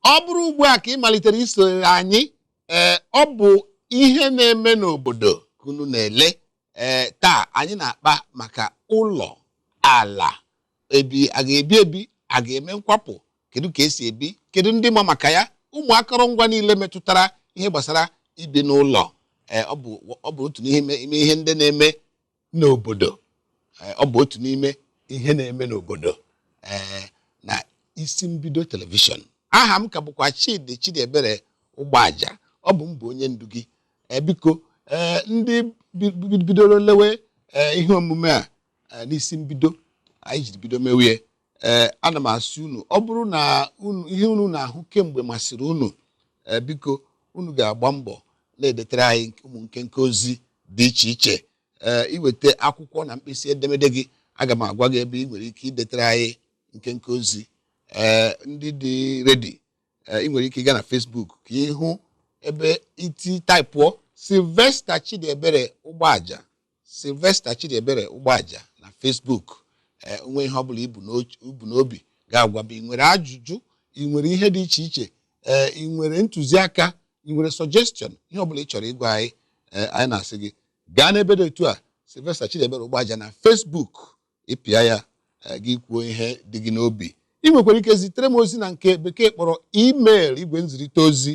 ọ bụrụ ugbu a ka ị malitere isonyere anyị ee ọ bụ ihe na-eme n'obodo ka unu na-ele ee taa anyị na-akpa maka ụlọ ala ebe a ga-ebi ebe a ga-eme nkwapụ kedu ka esi ebi kedu ndị ma maka ya ụmụ akọrọngwa niile metụtara ihe gbasara ibi n'ụlọ ee ọ bụ ọ bụ otu n'ime ime ihe ndị na-eme n'obodo eh, ọ bụ otu n'ime ihe na-eme n'obodo eh, na isi mbido telivishọn aha m ka bụkwa Chidi Chidiebere Ụgbọaja ọ bụ m bụ onye ndu gị eh, biko ndị bidoro lewe ihe omume a n'isi mbido anyị jiri bido mewie ee ana m asị unu ọ bụrụ na ihe unu na-ahụ kemgbe masịrị unu ee biko unu ga-agba mbọ na-edetara anyị ụmụ nkenke ozi dị iche iche ee i weta akwụkwọ na mkpịsị edemede gị aga m agwa gị ebe ị nwere ike idetara anyị nkenke ozi ee ndị dị ready ị nwere ike ịga na Facebook ka ị hụ ebe iti taịpụọ Sylvester Chidiebere ụgbọaja Sylvester Chidiebere Ụgbọaja na Facebook ee o nwee ihe ọbụla i bu n'och- i bu n'obi ga-agwa m ị nwere ajụjụ ị nwere ihe dị iche iche ee ị nwere ntụziaka ị nwere suggestion ihe ọbụla ị chọrọ ịgwa anyị ee anyị na-asị gị gaa n'ebe dị otu a Sylvester Chidiebere Ụgbọaja na Facebook ị pịa ya eh, gị kwuo ihe dị gị n'obi ị nwekwara ike zitere m ozi na nke bekee kpọrọ email igwe nzirịta ozi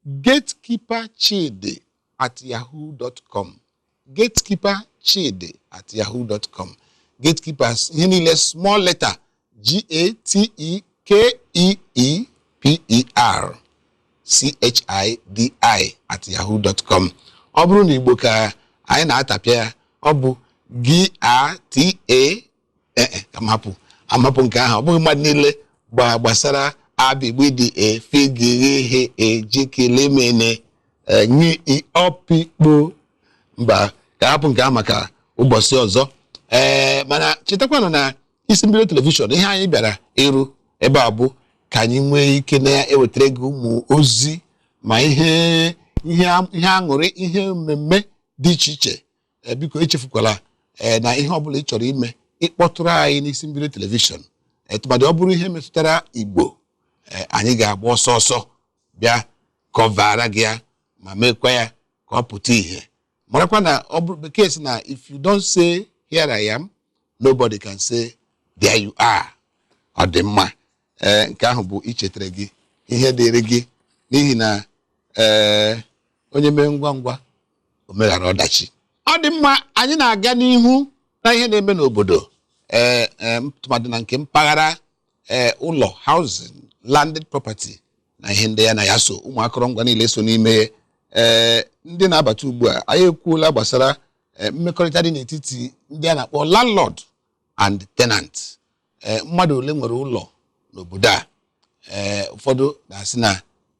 gatekeeper chidi at yahoo dot com gatekeeper chidi at yahoo dot com gatekeepers ihe niile small letter g a t e k e e p e r chidi at yahoo dot com ọ bụrụ na igbo ka anyị na-atapịa ya ọ bụ gị a t a ee e, ka m hapụ ka m hapụ nke ahụ ọ bụghị mmadụ niile gba gbasara abigbidi efigighe ejikilimene nye ọpikpo mba ka a hapụ nke ahụ maka ụbọchị ọzọ ee mana chetakwanụ na isi mbido telivishọn ihe anyị bịara ịrụ ebe a bụ ka anyị nwee ike na-ewetara gị ụmụ ozi ma ihe ihe a- ihe aṅụrị ihe mmemme dị iche iche Eh, biko echefukwala eh, na ihe ọbụla ị chọrọ ime ị kpọtụrụ anyị n'isi mbido telivishọn Eh, tụmadị ọ bụrụ ihe metụtara igbo eh, anyị ga-agba ọsọ ọsọ bịa kọvaara gị ya ma meekwa ya ka ọ pụta ìhè marakwa na ọ bụ bekee sị na if you don't say here I am nobody can say there you are ọ dị mma ee nke ahụ bụ ichetara gị ihe dịrị gị n'ihi na ee onye mee ngwa ngwa o meghara ọdachi ọ dị mma anyị na-aga n'ihu na ihe na-eme n'obodo ee ee tụmadị na nke mpaghara ee ụlọ housing landed property na ihe ndị ya na ya so ụmụ akọrọngwa niile so n'ime ee ndị na-abata ugbu a anyị ekwuola gbasara eh, mmekọrịta dị n'etiti ndị a na-akpọ landlord and tenant ee mmadụ ole nwere ụlọ n'obodo a ee ụfọdụ na-asị na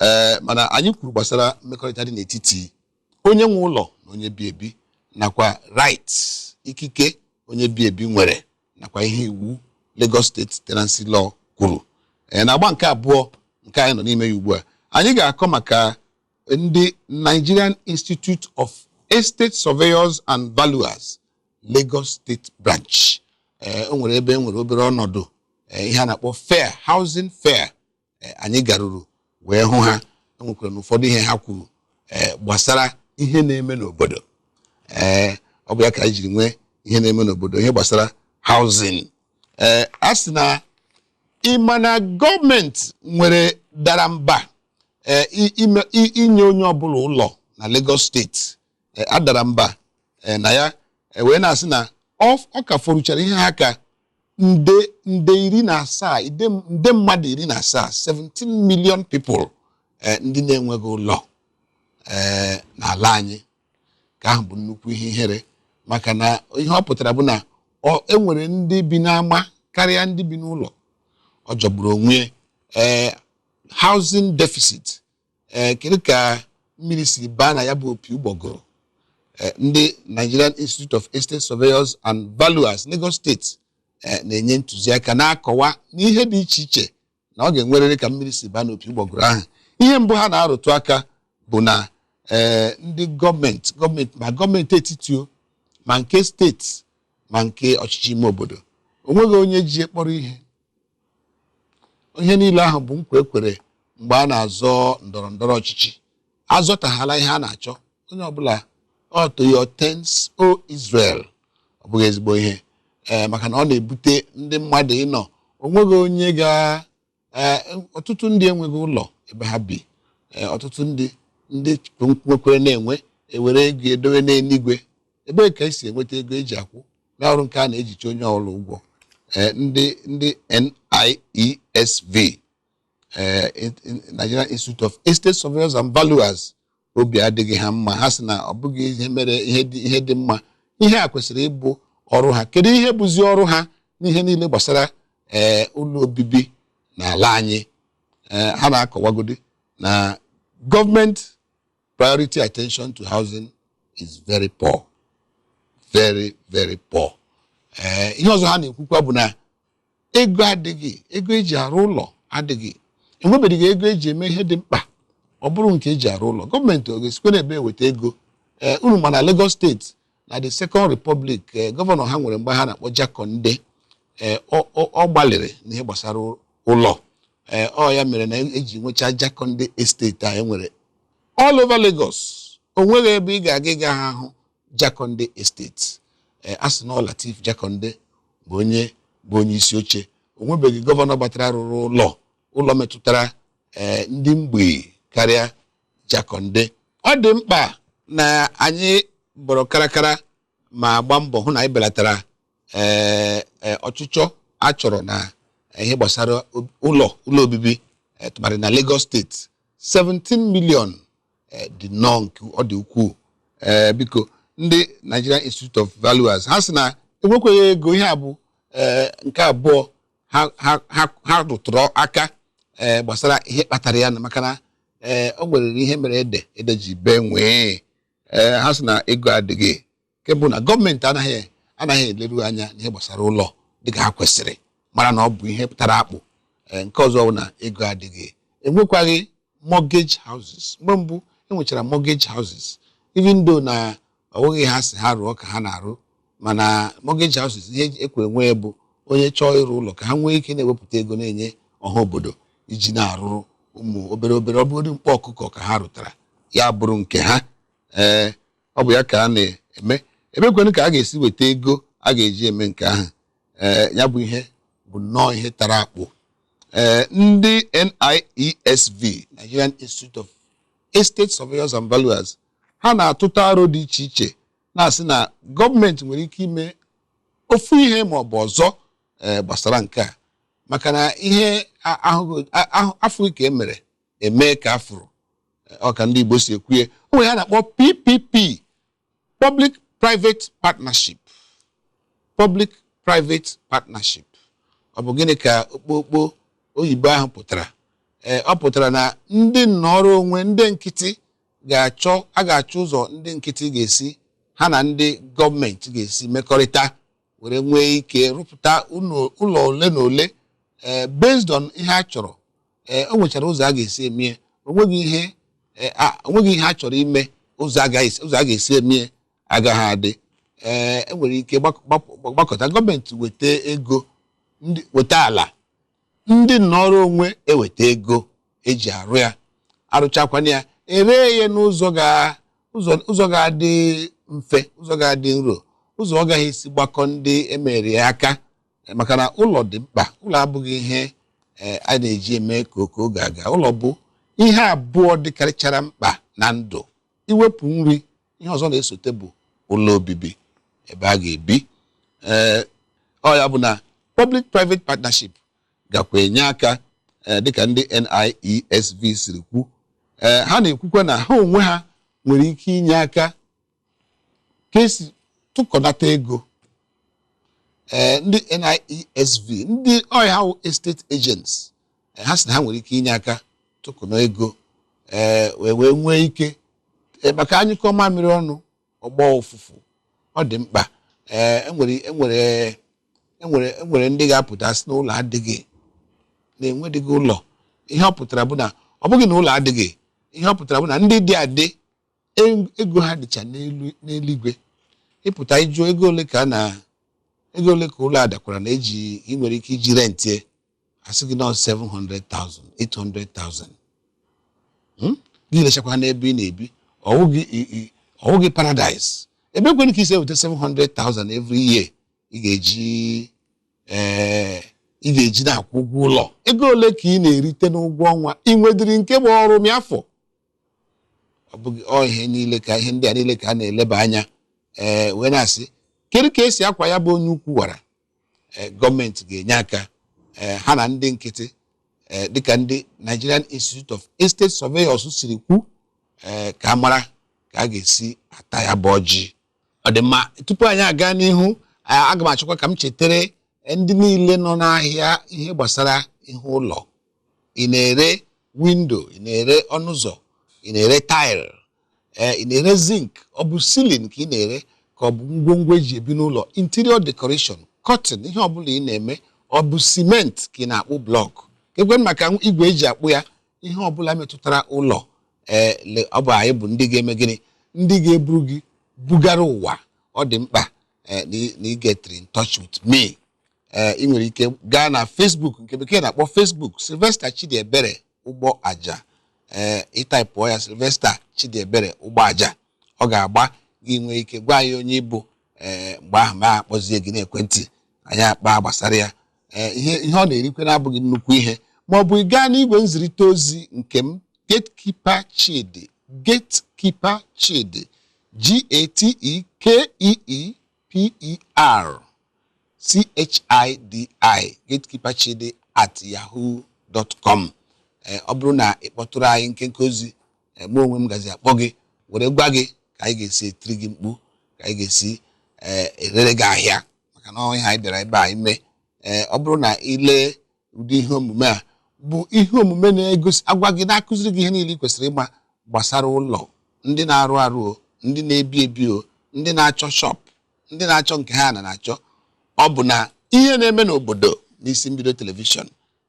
ee mana anyị kwuru gbasara mmekọrịta dị n'etiti onye nwe ụlọ na onye bi ebi nakwa right ikike onye bi ebi nwere nakwa ihe iwu Lagos State tenancy law kwuru ee na agba nke abụọ nke anyị nọ n'ime ya ugbu a anyị ga-akọ maka ndị Nigerian Institute of Estate Surveyors and Valuers Lagos State Branch ee o nwere ebe e nwere obere ọnọdụ ihe a na-akpọ fair housing fair eh, anyị garuru wee hụ ha enwekwara na ụfọdụ ihe ha kwuru eh, gbasara ihe na-eme n'obodo ee eh, ọ bụ ya ka anyị jiri nwee ihe na-eme n'obodo ihe gbasara housing ee a sị na ịma na gọọmenti nwere dara mba inye onye ọbụla ụlọ na Lagos State e, adara mba e, na ya e, wee na-asị na ọ ka fọrụchara ihe ha ka nde nde iri na asaa nde mmadụ iri na asaa 17 million people ndị na-enweghị ụlọ n'ala anyị nke ahụ bụ nnukwu ihe ihere maka na ihe ọ pụtara bụ na e nwere ndị bi n'ama karịa ndị bi n'ụlọ ọ jọgburu onwe ee housing deficit ee kedu ka mmiri siri baa na ya bụ opi ụgbọgụrụ Eh, ndị Nigerian Institute of Estate Surveyors and Valuers Lagos State eh, na-enye ntụziaka na-akọwa n'ihe dị iche iche na ọ ga-enwerịrị ka mmiri siri baa n'opi ụgbọgụrụ ahụ ihe mbụ ha na-arụtụ aka bụ na eh, ndị gọọmenti gọọmenti ma gọọmenti etiti o ma nke steeti ma nke ọchịchị ime obodo o nweghị onye ji ya kpọrọ ihe ihe niile ahụ bụ nkwa e kwere mgbe a na-azọ ndọrọ ndọrọ ọchịchị a zọtahala ihe a na-achọ onye ọbụla ọ to your tents o Israel ọ bụghị ezigbo ihe ee eh, maka na ọ na-ebute ndị mmadụ ịnọ o nweghị onye ga eh, ọtụtụ ndị enweghị ụlọ ebe ha bi eh, ọtụtụ ndị ndị nwekwere na-enwe ewere ego edowe n'eluigwe ebee ka e si enweta ego e ji akwụ na ọrụ nke a na-ejicha onye ọbụla ụgwọ eh, ndị ndị NIESV eh, Nigerian Institute of Estate Surveyors and Valuers obi adịghị ha mma ha sị na ọ bụghị ihe mere ihe dị mma ihe a kwesịrị ịbụ ọrụ ha kedu ihe bụzi ọrụ ha n'ihe niile gbasara ee eh, ụlọ obibi n'ala anyị ha na-akọwagodi na gọọmenti priority attention to housing is very poor very very poor ee eh, ihe ọzọ ha na-ekwukwa bụ na ego adịghị ego eji arụ ụlọ adịghị enwebeghị ego eji eme ihe dị mkpa ọ bụrụ nke eji arụ ụlọ gọọmenti ọ ga-esikwa n'ebee weta ego ee eh, unu ma na Lagos State na the second republic eh, gọvanọ ha nwere mgbe ahụ a na-akpọ Jakande eh, ọ- ọ ọ gbalịrị n'ihe gbasara ụlọ Eh, ọ ya mere na eji nwechaa Jakande estate a enwere all over Lagos o nweghị ebe ị ga-aga ị gaghị ahụ Jakande estate Eh, a sị na ọ Lateef Jakande bụ onye bụ onye isi oche o nwebeghị gọvanọ gbatara rụrụ ụlọ ụlọ metụtara eh, ndị mgbei karịa Jakande ọ dị mkpa na anyị bọrọ karakara ma gbaa mbọ hụ na anyị belatara ee e, ọchịchọ a chọrọ na ihe gbasara ob- ụlọ ụlọ obibi eh, tụmadị na Lagos State 17 million eh, dị nnọọ nke ọ dị ukwuu Eh, biko ndị Nigerian Institute of Valuers ha sị na enwekweghị ego ihe a bụ eh, nke abụọ ha ha ha ha rụtụrụ aka ee gbasara ihe kpatara ya na maka na ee o nwere ihe mere ede ede ji bee nwee ee ha sị na ego adịghị nke mbụ na gọọmenti anaghị anaghị eleru anya n'ihe gbasara ụlọ dịka ha kwesịrị mara na ọ bụ ihe pụ- tara akpụ ee nke ọzọ bụ na ego adịghị enwekwaghị mortgage houses mgbe mbụ enwechara mortgage houses even though na ọ bụghị ha sị ha rụọ ka ha na-arụ mana mortgage houses ihe ekwe nwee bụ onye chọọ ịrụ ụlọ ka ha nwee ike na-ewepụta ego na-enye ọha obodo iji na-arụrụ ụmụ obere obere ọ bụrụ mkpa ọkụkọ ka ha rụtara ya bụrụ nke ha ee ọ bụ ya ka a na-eme ebeekwanụ ka a ga-esi weta ego a ga-eji eme nke ahụ ee ya bụ ihe bụ nnọọ ihe tara akpụ ee ndị NIESV Nigerian Institute of Estate Surveyors and Valuers ha na-atụta aro dị iche iche na-asị na gọọmenti nwere ike ime ofu ihe ma ọ bụ ọzọ eh, gbasara nke a maka na ihe a- ahụghị- a- ahụ- afụghị ka e mere e mee ka a fụrụ Eh, ọ ka ndị Igbo si ekwuye o nwere ha na-akpọ PPP Public Private Partnership Public Private Partnership ọ bụ gịnị ka okpokpo oyibo ahụ pụtara ee ọ pụtara na ndị nnọrọ onwe ndị nkịtị ga-achọ a ga-achọ ụzọ ndị nkịtị ga-esi ha na ndị gọọmenti ga-esi mekọrịta were nwee ike rụpụta ụlọ ole na ole eh, based on ihe a chọrọ eh, o nwechara ụzọ a ga-esi emie onweghị ihe eh, onweghị ihe a chọrọ ime ụzọ a ga-esi emie agaghị adị ee enwere ike gbakọta gọọmenti weta ego weta ala ndị nnọrọ onwe eweta ego eji arụ ya arụchakwana ya ere ya n'ụzọ ga- ụzọ- ụzọ ga-adị mfe ụzọ ga-adị nro ụzọ ọ gaghị esi gbakọ ndị emere ya aka Eh, maka na ụlọ dị mkpa ụlọ abụghị ihe eh, a na-eji eme ka oke oge aga ụlọ bụ ihe abụọ dịkarịchara mkpa na ndụ iwepụ nri ihe ọzọ na-esote bụ ụlọ obibi ebe a ga-ebi ee ọ ya bụ na public private partnership gakwa enye aka ee dịka ndị NIESV siri kwu ee ha na-ekwukwa na ha onwe ha nwere ike inye aka ka esi tụkọnata ego ee ndị NIESV ndị ọ ya wụ estate agents ha sị na ha nwere ike inye aka tụkọnụ ego ee wee wee nwee ike ee, maka anyụkọọ mamịrị ọnụ ọ gbọọ ụfụfụ ọ dị mkpa ee enwere enwere enwere enwere ndị ga-apụta sị na ụlọ adịghị na enwedịghị ụlọ ihe ọ pụtara bụ na ọ bụghị na ụlọ adịghị ihe ọ pụtara bụ na ndị dị adị e- ego ha dịcha n'elu n'eluigwe ị pụta ị jụọ ego ole ka a na ego ole ka ụlọ a dakwara na eji ị nwere ike iji rentie asị gị na 700,000 800,000 hmm? gị lechakwa n'ebe ị na-ebi ọ wụghị paradise ebe kwanụ ka ị si eweta 700,000 every year ị ga-eji eh, ị ga-eji na-akwụ ụgwọ ụlọ ego ole ka ị na-erite n'ụgwọ ọnwa ị nwedịrị nke bụ ọrụ ma fọ ọ bụghị ọ ihe niile ka ihe ndị a niile ka a na-eleba anya ee eh, wee na-asị kedu ka esi akwọ ya bụ onye ukwu wara eh, gọọmenti ga-enye aka eh, ha na ndị nkịtị eh, dịka ndị Nigerian Institute of Estate Surveyors siri kwu eh, ka a mara ka a ga-esi ata ya bụ ọjị ọ dị mma tupu anyị aga n'ihu eh, aga m achọkwa ka m chetara eh, ndị niile nọ n'ahịa ihe gbasara ihe ụlọ ị na-ere window ị na-ere ọnụ ụzọ ị na-ere tile ee ị na-ere zinc ọ bụ ceiling ka ị na-ere ka ọ bụ ngwongwo eji ebi n'ụlọ interior decoration curtain ihe ọbụla ị na-eme ọ bụ cement ka ị na-akpụ block kee kwanụ maka igwe eji akpụ ya ihe ọbụla metụtara ụlọ ee ọ bụ anyị bụ ndị ga-eme gịnị ndị ga-eburu gị bugara ụwa ọ dị mkpa eh, na ị get in touch with me eh, ị nwere ike gaa na Facebook nke bekee na-akpọ Facebook Sylvester Chidiebere Ugboaja ee ị taipụọ ya Sylvester Chidiebere Ugboaja ọ ga-agba gị nwee ike gwa anyị onye ị bụ ee mgbe ahụ m akpọzie gị n'ekwentị anyị akpaa gbasara ya ee ihe ihe ọ na-erikwanụ abụghị nnukwu ihe ma ọ bụ ị gaa n'igwe nzirịta ozi nke m gatekeeper chidi gatekeeper chidi g-a-t-e-k-e-e P-E-R-C-H-I-D-I gatekeeper chidi at yahoo dot com ee ọ bụrụ na ị kpọtụrụ anyị nkenke ozi ee, mụ onwe m gazi akpọ gị were gwa gị ka anyị ga-esi etiri gị mkpu ka anyị ga-esi ee, erere gị ahịa maka na ọ ihe anyị bịara ebe a ime ee ọ bụrụ na i lee ụdị ihe omume a bụ ihe omume na-egosi agwa gị na-akụziri gị ihe niile ị kwesịrị ịma gbasara ụlọ ndị na-arụ arụ o ndị na-ebi ebi o ndị na-achọ shop ndị na-achọ nke ha na na-achọ ọ bụ na ihe na-eme n'obodo n'isi mbido telivishọn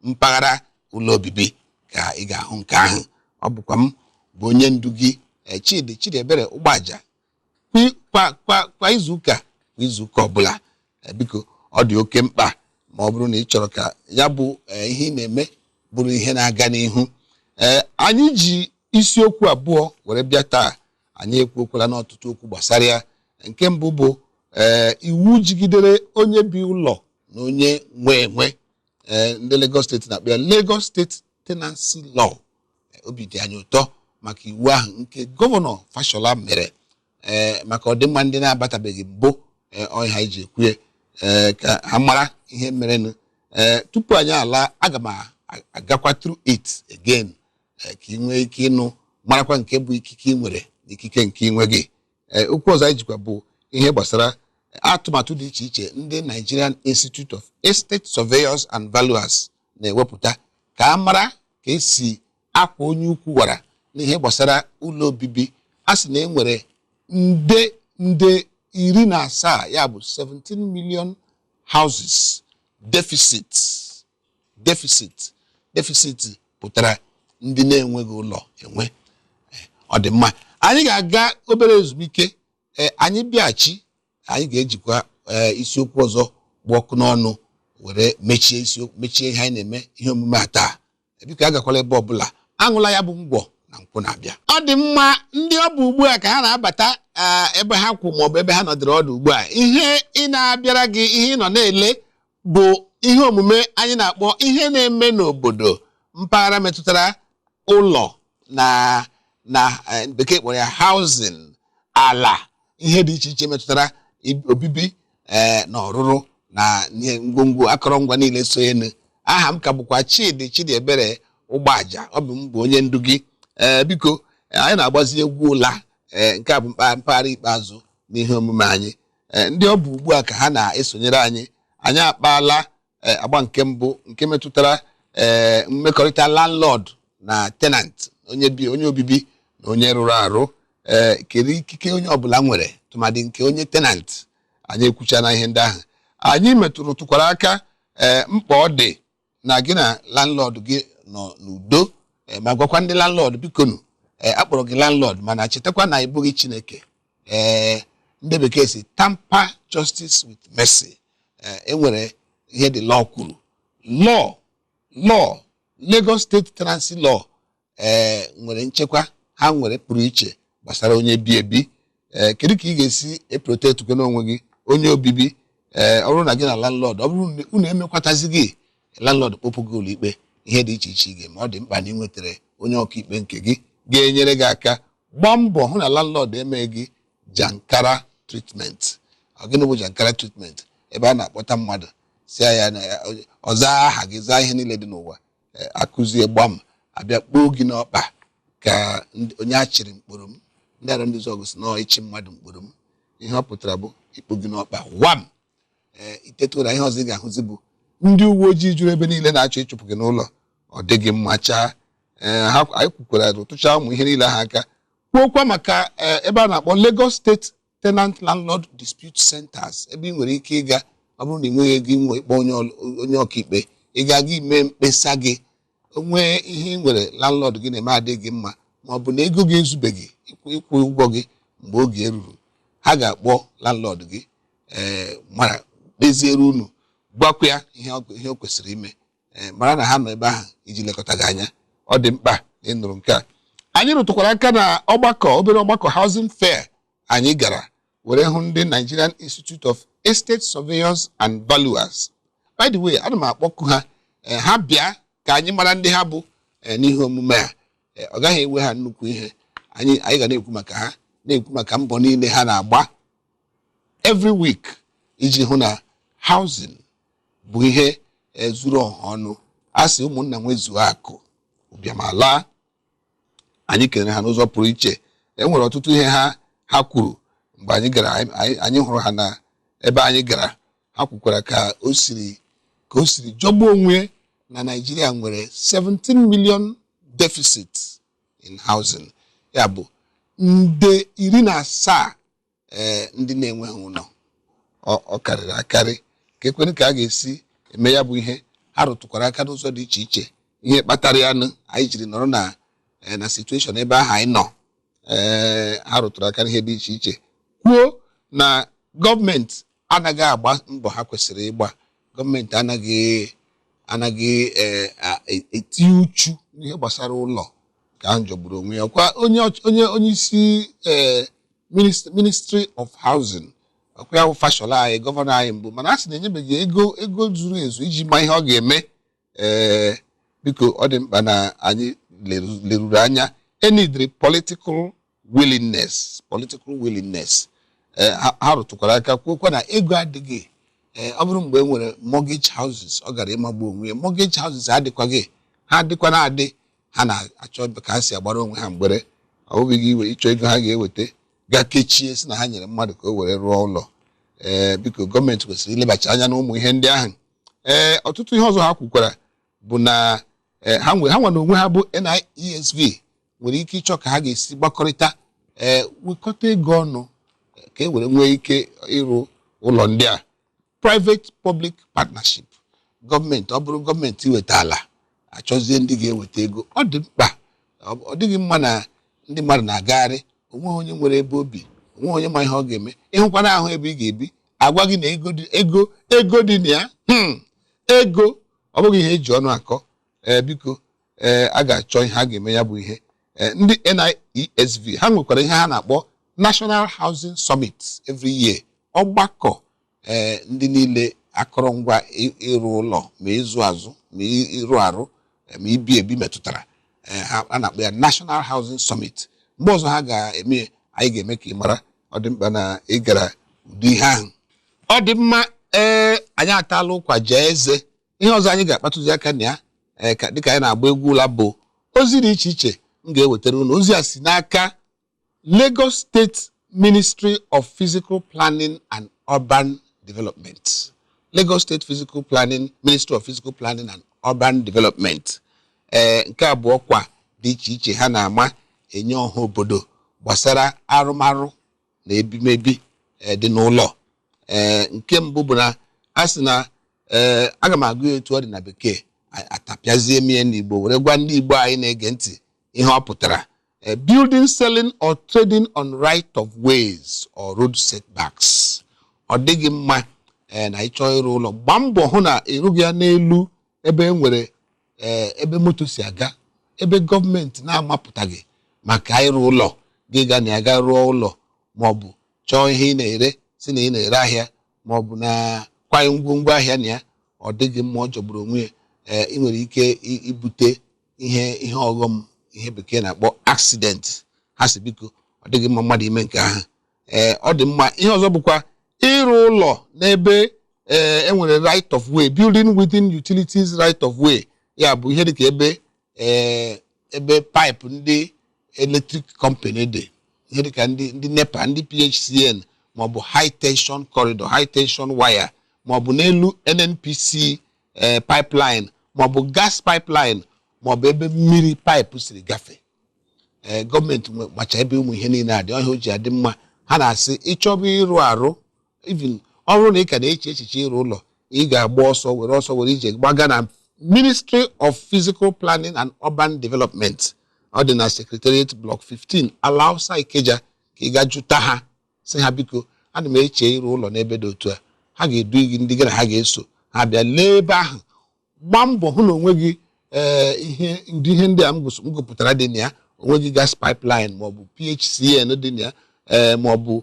mpaghara ụlọ obibi ka ị ga-ahụ nke ahụ ọ bụkwa m bụ onye ndu gị eh, chidi chidiebere ụgbọaja Kwa- kwa kwa kwa izuụka kwa izuụka ọbụla eh, biko ọ dị oke mkpa ma ọ bụrụ na ị chọrọ ka ya bụ eh, ihe ị na-eme bụrụ ihe na-aga n'ihu ee anyị ji isiokwu abụọ were bịa taa anyị ekwuokwalanụ ọtụtụ okwu gbasara ya nke mbụ bụ ee iwu jigidere onye bi ụlọ na onye nwe enwe ee ndị Lagos steeti na-akpọ ya Lagos State tenancy law obi dị anyị ụtọ maka iwu ahụ nke gọvanọ fashola mere ee maka ọdịmma ndị na-abatabeghị mbụ ee ọ ihe anyị ji ekwue ee ka ha mara ihe merenụ ee tupu anyị ala aga m a- agakwa through it again ee, ka ị nwee ike ịnụ marakwa nke bụ ikike ị nwere na ikike nke ị nweghị Ee, okwu ọzọ anyị jikwa bụ ihe gbasara atụmatụ dị iche iche ndị Nigerian Institute of Estate Surveyors and Valuers na-ewepụta ka a mara ka esi akwọ onye ukwu wara n'ihe gbasara ụlọ obibi a sị na e nwere nde nde iri na asaa ya bụ 17 million houses deficit deficit deficit pụtara ndị na-enweghị ụlọ enwe eh, ọ dị mma anyị ga-aga obere ezumike eh, anyị bịaghachi anyị ga-ejikwa eh, isiokwu ọzọ gba ọkụ n'ọnụ were mechie isiokwu mechie ihe anyị na-eme ihe omume a taa biko agakwala ebe ọbụla aṅụla ya bụ ngwọ na nkwụ na-abịa ọ dị mma ndị ọ bụ ugbu a ka ha na-abata ah, ebe ha kwụ maọbụ ebe ha nọdụrụ ọdụ ugbu a ihe na-abịara gị ihe ị nọ na-ele bụ ihe omume anyị na-akpọ ihe na-eme n'obodo mpaghara metụtara ụlọ na na eh, bekee kpọrọ ya housing ala ihe dị iche iche metụtara i- obibi eh, na ọrụrụ na ihe ngwongwo akọrọngwa niile so ya nụ aha m ka bụkwa chidi chidiebere ụgbọaja ọ bụ m bụ onye ndu gị ee biko eh, anyị na-agbazi egwu ụla ee nke a bụ mkpa- mpaghara ikpeazụ n'ihe omume anyị eh, ndị ọ bụ ugbu a ka ha na-esonyere anyị anyị akpaala eh, agba nke mbụ nke metụtara eh, mmekọrịta landlord na tenant onye bi onye obibi na onye rụrụ arụ ee kedu ikike onye ọbụla nwere tụmadị nke onye tenant anyị ekwuchana ihe ndị ahụ anyị metụrụ tụkwara aka ee mkpa ọ dị na gị na landlord gị nọ n'udo eh, ma gwakwa ndị landlord bikonu eh, a kpọrọ gị landlord mana chetakwa na ị bụghị chineke ee ndị bekee sị tamper justice with mercy Eh, e nwere ihe the law kwuru law law Lagos State Tenancy Law ee eh, nwere nchekwa ha nwere pụrụ iche gbasara onye bi ebi ee eh, kedu ka ị ga-esi eprotect gị n'onwe gị onye obibi ee ọ bụrụ na gị na landlord ọ bụrụ na unu emekwatazighị landlord kpọpụ gị ụlọikpe ihe dị iche iche ị ga-eme ọ dị mkpa na ị nwetara onye ọkaikpe nke gị ga-enyere gị aka gbaa mbọ hụ na landlord emeghị gị jankara treatment gịnị bụ jankara treatment ebe a na-akpọta mmadụ sị ya na ọ zaa aha gị zaa ihe niile dị n'ụwa eh, a kụzie gbam a bịa kpoo gị n'ọkpa ka ndị- onye a chịrị mkpụrụ m ndị Arọndizuọgụ sị na ịchị mmadụ mkpụrụ m ihe ọ pụtara bụ ikpo gị n'ọkpa wam ee ị teta ụra ihe ọzọ ị ga-ahụzi bụ ndị uwe ojii juru ebe niile na-achọ ịchụpụ gị n'ụlọ ọ dịghị mma chaa ee ha anyị kwukwara rụtụchaa ụmụ ihe niile ha aka kwuokwa maka eh, ebe a na-akpọ Lagos State tenant landlord dispute centers ebe ị nwere ike ịga ọ bụrụ na ị nweghị ego inwe ịkpọ onye ọl- onye ọkaikpe ị ga-aga ime mkpesa gị o nwee ihe ị nwere landlord gị na-eme adịghị gị mma ma ọ bụ na ego gị ezubeghị ịkwụ ịkwụ ụgwọ gị mgbe oge eruru ha ga-akpọ landlord gị ee mara kpeziere unu gwakwa ya ihe ọ- ihe o kwesịrị ime ee mara na ha nọ ebe ahụ iji lekọta gị anya ọ dị mkpa na ị nụrụ nke a anyị rụtụkwara aka na ọgbakọ obere ọgbakọ housing fair anyị gara were hụ ndị Nigerian Institute of Estate Surveyors and Valuers by the way ana m akpọku ha ee, ha bịa ka anyị mara ndị ha bụ ee, n'ihe omume a Ee, ọ gaghị ewe ha nnukwu ihe anyị anyị ga na-ekwu maka ha na-ekwu maka mbọ niile ha na-agba every week iji hụ na housing bụ ihe ezuru ọha ọnụ a sị ụmụnna nwezuo akụ ụbịam alaa anyị kelere ha n'ụzọ pụrụ iche e nwere ọtụtụ ihe ha ha kwuru mgbe anyị gara anyị hụrụ ha na ebe anyị gara ha kwukwara ka o siri ka o siri jọgbuo onwe na Naịjirịa nwere 17 million deficit in housing ya bụ nde iri na asaa ee ndị na-enweghị ụlọ ọ karịrị akarị kee kwanụ ka a ga-esi eme ya bụ ihe ha rụtụkwara aka n'ụzọ dị iche iche ihe kpatara ya nụ anyị jiri nọrọ na eh, na situation ebe ahụ anyị nọ ee eh, ha rụtụrụ aka n'ihe dị iche iche kwuo na gọọmenti anaghị agba mbọ ha kwesịrị ịgba gọọmenti anaghị anaghị eh, a- e- etinye uchu n'ihe gbasara ụlọ nke ahụ jọgburu onwe ya ọkwa onye ọch- onye onye isi eh, minist- ministry of housing ọkwa ya bụ Fashola anyị gọvanọ anyị mbụ mana a sị na enyebeghị ego ego zuru ezu iji ma ihe ọ ga-eme ee biko ọ dị mkpa na anyị leruru anya e needịrị political willingness political willingness eh, ha rụtụkwara aka kwuokwa na ego adịghị eh, ọ bụrụ mgbe e nwere mortgage houses ọ gaara ịmagbu onwe ya mortgage houses adịkwaghị ha dịkwanụ adị ha na-achọ ka ha si agbara onwe ha mgbere ọ bụghị iwe ịchọ ego ha ga-eweta gaa kechie sị na ha nyere mmadụ ka o were rụọ ụlọ ee eh, biko gọọmenti kwesịrị ilebacha anya n'ụmụ ihe ndị ahụ ee ọtụtụ ihe ọzọ ha kwukwara bụ na e, ha nwe ha nwa n'onwe ha bụ NIESV nwere ike ịchọ ka ha ga-esi gbakọrịta ee wekọta ego ọnụ e, ka e were nwee ike ịrụ ụlọ ndị a private public partnership gọọmenti ọ bụrụ gọọmenti weta ala a chọzie ndị ga-eweta ego ọ dị mkpa ọ dịghị mma na ndị mmadụ na-agagharị o nweghị onye nwere ebe o bi o nweghị onye ma ihe ọ ga-eme ị hụkwanụ ahụ ebe ị ga-ebi a gwa gị na ego ego ego dị na ya hmm, ego ọ bụghị ihe e ji ọnụ akọ ee biko ee a ga-achọ ihe a ga-eme ya bụ ihe ndị NIESV ha nwekwara ihe ha na-akpọ National Housing Summit every year ọgbakọ ee ndị niile akọrọngwa ị- ịrụ ụlọ ma ịzụ azụ ma ị- ịrụ arụ eh, ma ibi ebi metụtara eh, ha a na-akpọ ya National Housing Summit mgbe ọzọ ha ga-eme ya, anyị ga-eme ka ị mara ọ dị mkpa na ị gara ụdị ihe ahụ ọ dị mma ee anyị ataala ụkwa jee eze ihe ọzọ anyị ga-akpatụzi aka na ya ee, ka dịka anyị na-agba egwu ụla bụ ozi dị iche iche m ga-ewetara unu ozi a si n'aka Lagos State Ministry of Physical Planning and Urban Development Lagos State Physical Planning Ministry of Physical Planning and Urban Development ee nke a bụ ọkwa dị iche iche ha na-ama enye ọha obodo gbasara arụmarụ na ebimebi ee, dị n'ụlọ ee nke mbụ bụ na a sị na ee aga m agụ ya etu ọ dị na bekee a- atapịazie m ya n'igbo were gwa ndị igbo anyị na-ege ntị ihe ọ pụtara A building selling or trading on right of ways or road setbacks ọ dịghị mma ee na ị chọọ ịrụ ụlọ gbaa mbọ hụ na ị rụghị ya n'elu ebe e nwere ee ebe moto si aga ebe gọọmenti na-amapụtaghị maka ịrụ ụlọ gị ga na ya ga rụọ ụlọ ma ọ bụ chọọ ihe ị na-ere sị na ị na-ere ahịa ma ọ bụ na kwanye ngwongwo ahịa na ya ọ dịghị mma ọ jọgburu onwe ya ee ị nwere ike i- ibute ihe ihe ọghọm ihe bekee na-akpọ accident ha sị biko ọ dịghị mma mmadụ ime nke ahụ ee ọ dị mma ihe ọzọ bụkwa ịrụ ụlọ n'ebe ee enwere right of way building within utilities right of way ya bụ ihe dịka ebe ee ebe pipe ndị electric company dị ihe dịka ndị ndị nepa ndị phcn maọbụ high tension corridor high tension wire maọbụ n'elu nnpc ee pipeline maọbụ gas pipeline maọbụ ebe mmiri pipe siri gafee ee gọọmenti nwe- macha ebe ụmụ ihe niile a dị ọ ya o ji adị mma ha na-asị ị chọba ịrụ arụ even ọ bụrụ na ị ka na-eche echiche ịrụ ụlọ ị ga-agba ọsọ were ọsọ were ije gbaga na ministry of physical planning and urban development ọ dị na secretariat block 15 alausa ikeja ka ị ga jụta ha sị ha biko ana m eche ịrụ ụlọ n'ebe dị otu a ha ga-edu gị ndị gị na ha ga-eso ha bịa lee ebe ahụ gbaa mbọ hụ na o nweghị ee eh, ihe ndị ihe ndị a m gụpụtara dị na ya o nweghị gas pipeline maọbụ PHCN dị na ya eh, maọbụ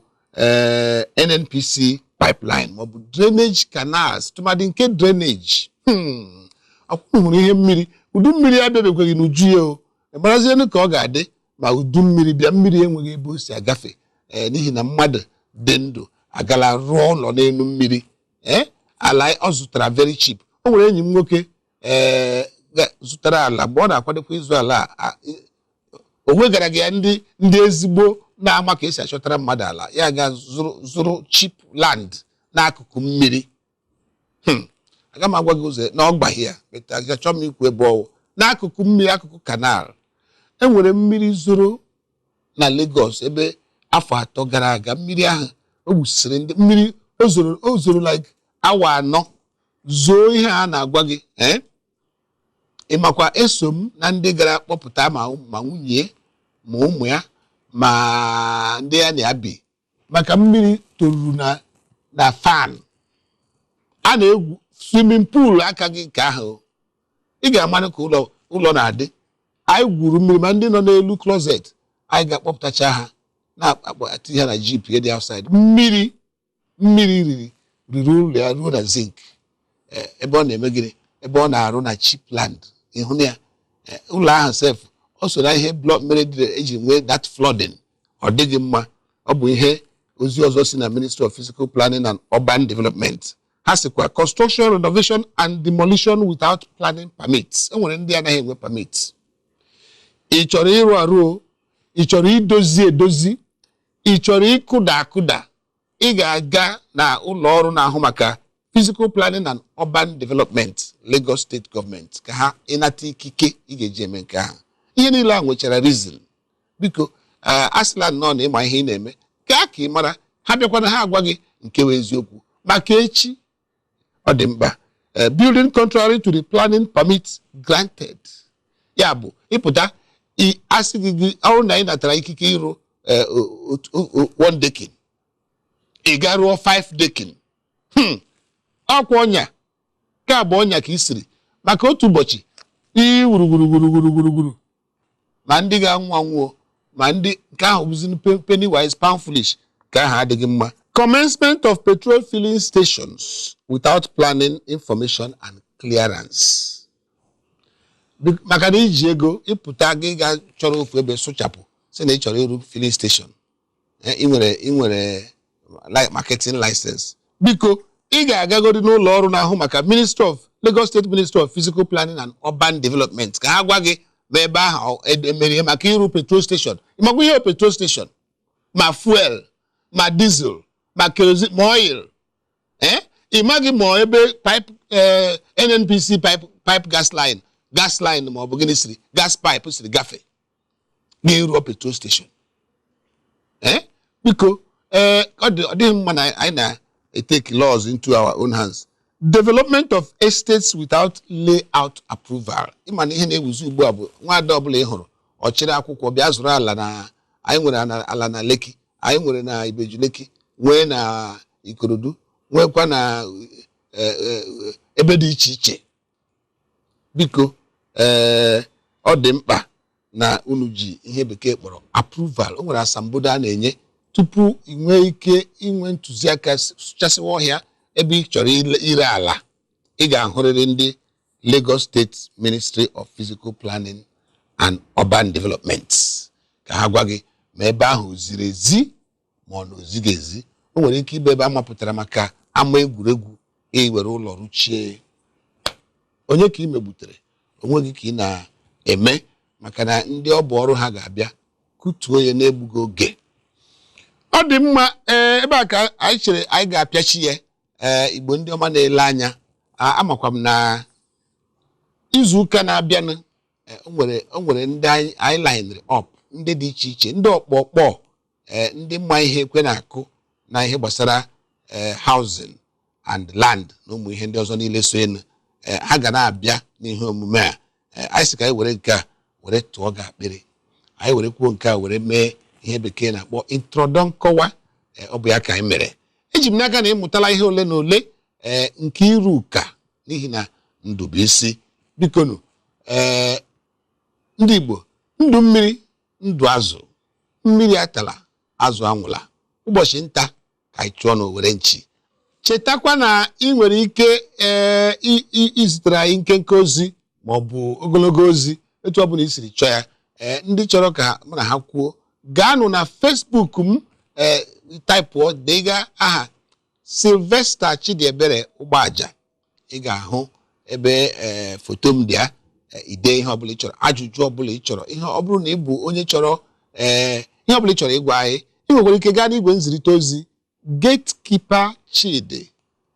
eh, NNPC pipeline maọbụ drainage canals tụmadị nke drainage hmm. akwụkwọ hụrụ ihe mmiri udu mmiri abịabekweghị n'uju ya o marazienụ ka ọ ga-adị ma udu mmiri bịa mmiri enweghị ebe o si agafe ee eh, n'ihi na mmadụ dị ndụ agala rụọ ụlọ n'elu mmiri ee eh, ala ọ zụtara very cheap o nwere enyi m nwoke ee eh, zụtara ala mgbe ọ na-akwadokwa ịzụ ala o wegaraghị ya ndị ndị ezigbo na-ama ka esi achọtara mmadụ ala ya ga zụrụ cheap land n'akụkụ mmiri Hmm. aga m agwa gị ụzọ na ọ gbaghị ya beta achọ m ikwu ebe ọ wụ n'akụkụ mmiri akụkụ canal enwere mmiri zoro na Lagos ebe afọ atọ gara aga mmiri ahụ o gbusiri ndị mmiri o zoro o zoro like awa anọ zoo ihe a na-agwa gị ee eh? ị makwa eso m na ndị gara kpọpụta ma ma nwunye ma ụmụ ya ma ndị ya na ya bi maka mmiri toruru na na fan a na-egwu swimming pool aka gị nke ahụ ị ga-amanụ ka ụlọ ụlọ na-adị anyị gwuru mmiri ma ndị nọ n'elu closet anyị ga-akpọpụtacha ha na-akpọti ha na jeep ya dị outside mmiri mmiri riri riri ụlọ ya ruo na zinc Eh, ebe ọ na-eme gịnị ebe ọ na-arụ na cheap land ịhụ na ya Eh, ụlọ ahụ sef o so na ihe blọk mere dị eji nwee that flooding ọ dịghị mma ọ bụ ihe ozi ọzọ si na Ministry of Physical Planning and Urban Development ha sịkwa construction renovation and demolition without planning permits enwere ndị anaghị enwe permit ị chọrọ ịrụ arụ ị chọrọ idozi edozi ị chọrọ ịkụda akụda ị ga-aga na ụlọ ọrụ na-ahụ maka physical planning and urban development Lagos State gọọmenti ka ha ịnata ikike ị ga-eji eme nke ahụ ihe niile a nwechara reason biko eh, asịla nnọọ na ị ma ihe ị na-eme gaa ka ị mara ha bịakwanụ ha agwa gị nke bụ eziokwu maka echi ọ dị mkpa eh, building contrary to the planning permit granted ya bụ ị pụta i- asị gị gị ọrụ na anyị natara ikike ịrụ eh, o- o- o- o- one decking ị gaa rụọ five decking Hmm, ọkwa ọnya ka ọ bụ ọnya ka i siri maka otu ụbọchị ii wuruwuruwuruwuruwuru ma ndị ga-anwụ anwụọ ma ndị nke ahụ bụzi penny wise pound foolish nke ahụ adịghị mma commencement of petrol filling stations without planning information and clearance maka na i ji ego ị pụta gị gaa chọrọ ofu ebe sụchapụ sị na ị chọrọ ịrụ filling station eh, ị nwere ị nwere like marketing license biko ị ga-agagodi n'ụlọ ọrụ na-ahụ maka ministry of Lagos State Ministry of Physical Planning and Urban Development ka ha gwa gị ma ebe ahụ emere maka ịrụ petrol station ị makwa ihe petrol station ma fuel ma diesel ma kerosene ma oil eh? ị maghị ma ebe pipe eh, NNPC pipe pipe gas line gas line ma ọ bụ gịnị siri gas pipe siri gafee n'ịrụọ petrol station ee biko ee ọ dị- ọ dịghị mma na anyị na-etake laws into our own hands development of estates without layout approval ị ma na ihe na-ewuzi ugbu a bụ nwaada ọbụla ị hụrụ ọ chịrị akwụkwọ bịa zụrụ ala na anyị nwere ana- ala na Lekki anyị nwere na Ibeju Lekki nwee na Ikorodu nwekwa na eh, eh, ebe dị iche iche biko ee eh, ọ dị mkpa na unu ji ihe bekee kpọrọ approval o nwere asambodo a na-enye tupu ị nwee ike inwe ntụziaka sụchasịwa ọhịa ebe ị chọrọ ire ala ị ga-ahụrịrị ndị Lagos State Ministry of Physical Planning and Urban Development ka ha gwa gị ma ebe ahụ ziri ezi ma ọ na o zighị ezi o nwere ike ịbụ ebe a mapụtara maka ama egwuregwu i were ụlọ rụchie onye ka ị megbutere onwe gị ka ị na-eme maka na ndị ọ bụ ọrụ ha ga-abịa kụtuo ya n'egbughị oge ọ dị mma ee ebe a ka anyị chere anyị ga-apịachi ya ee igbo ndị ọma na-ele anya a- amakwa m na izu ụka na-abịanụ e, o nwere o nwere ndị anyị anyị linere up ndị dị iche iche ndị ọkpọkpọ eh, ndị ma ihe ekwe na-akụ na ihe gbasara eh, housing and land na ụmụ ihe ndị ọzọ niile sonụ eh, ha ga na-abịa n'ihe omume a Eh, anyị sị ka anyị were nke a were tụọ gị akpịrị anyị were kwuo nke a were mee ihe bekee na-akpọ introdu- nkọwa Eh, ọ bụ ya ka anyị mere eji m n'aka na ị mụtala ihe ole na ole ee nke iru ụka n'ihi na ndụ bụ isi bikonụ ee ndị igbo ndụ mmiri ndụ azụ mmiri atala azụ anwụla ụbọchị nta ka anyị chụọ na owere nchi chetakwa na ị nwere ike ee i- i- izitere anyị nkenke ozi ma ọ bụ ogologo ozi etu ọ bụla i siri chọọ ya ee ndị chọrọ ka mụ na ha kwuo gaanụ na Facebook m ee taịpụọ dega aha Sylvester Chidiebere Ụgbọaja ị ga-ahụ ebe ee foto m dị ya ee, i dee ihe ọbụla ị chọrọ ajụjụ ọbụla ị chọrọ ihe ọ bụrụ na ị bụ onye chọrọ ee ihe ọbụla ị chọrọ ịgwa anyị ị nwekwara ike gaa n'igwe nzirịta ozi gatekeeper chidi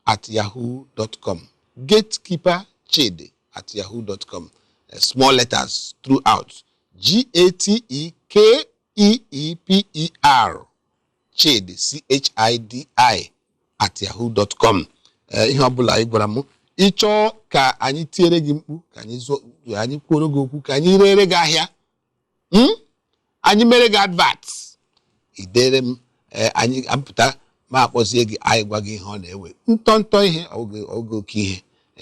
at yahoo dot com gatekeeper chidi at yahoo dot com Eh, small letters throughout g a t e k e e p e r chidi chidi at yahoo dot com eh, ihe ọbụla ị gwara m ị chọọ ka anyị tiere gị mkpu ka anyị anyị kwuoro gị okwu ka anyị rere gị ahịa hmm? anyị mere gị advert i dere m eh, anyị apụta ma akpọzie gị anyị gwa gị ihe ọ na-ewe ntọ ntọ ihe ọ bụghị oke ihe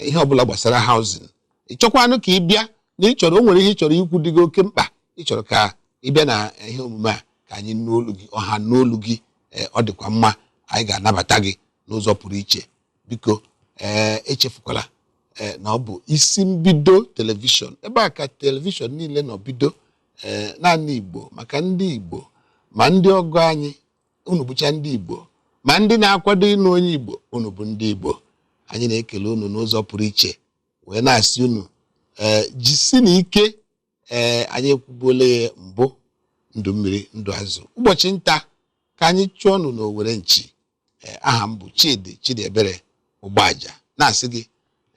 ihe ọbụla gbasara housing ị chọkwanụ ka ị bịa na ị chọrọ o nwere ihe ị chọrọ ikwu dị gị oke mkpa ị chọrọ ka ị bịa na ihe omume a ka anyị nụ olu gị ọha nụ olu gị ee ọ dịkwa mma anyị ga-anabata gị n'ụzọ pụrụ iche biko ee echefukwala ee na ọ bụ isi mbido telivishọn ebe a ka telivishọn niile nọ bido ee naanị igbo maka ndị igbo ma ndị ọgọ anyị unu bụcha ndị igbo ma ndị na-akwado ịnụ onye igbo unu bụ ndị igbo anyị na-ekele unu n'ụzọ pụrụ iche wee na-asị unu ee jisi na ike ee anyị ekwubuola ya mbụ ndụ mmiri ndụ azụ ụbọchị nta ka anyị chụọnụ n'owere nchi ee aha m bụ chidi chidiebere ụgbọaja na-asị gị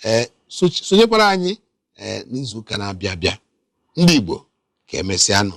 ee sochi- sonyekwara anyị ee n'izuụka na-abịa abịa ndị igbo ka emesịanụ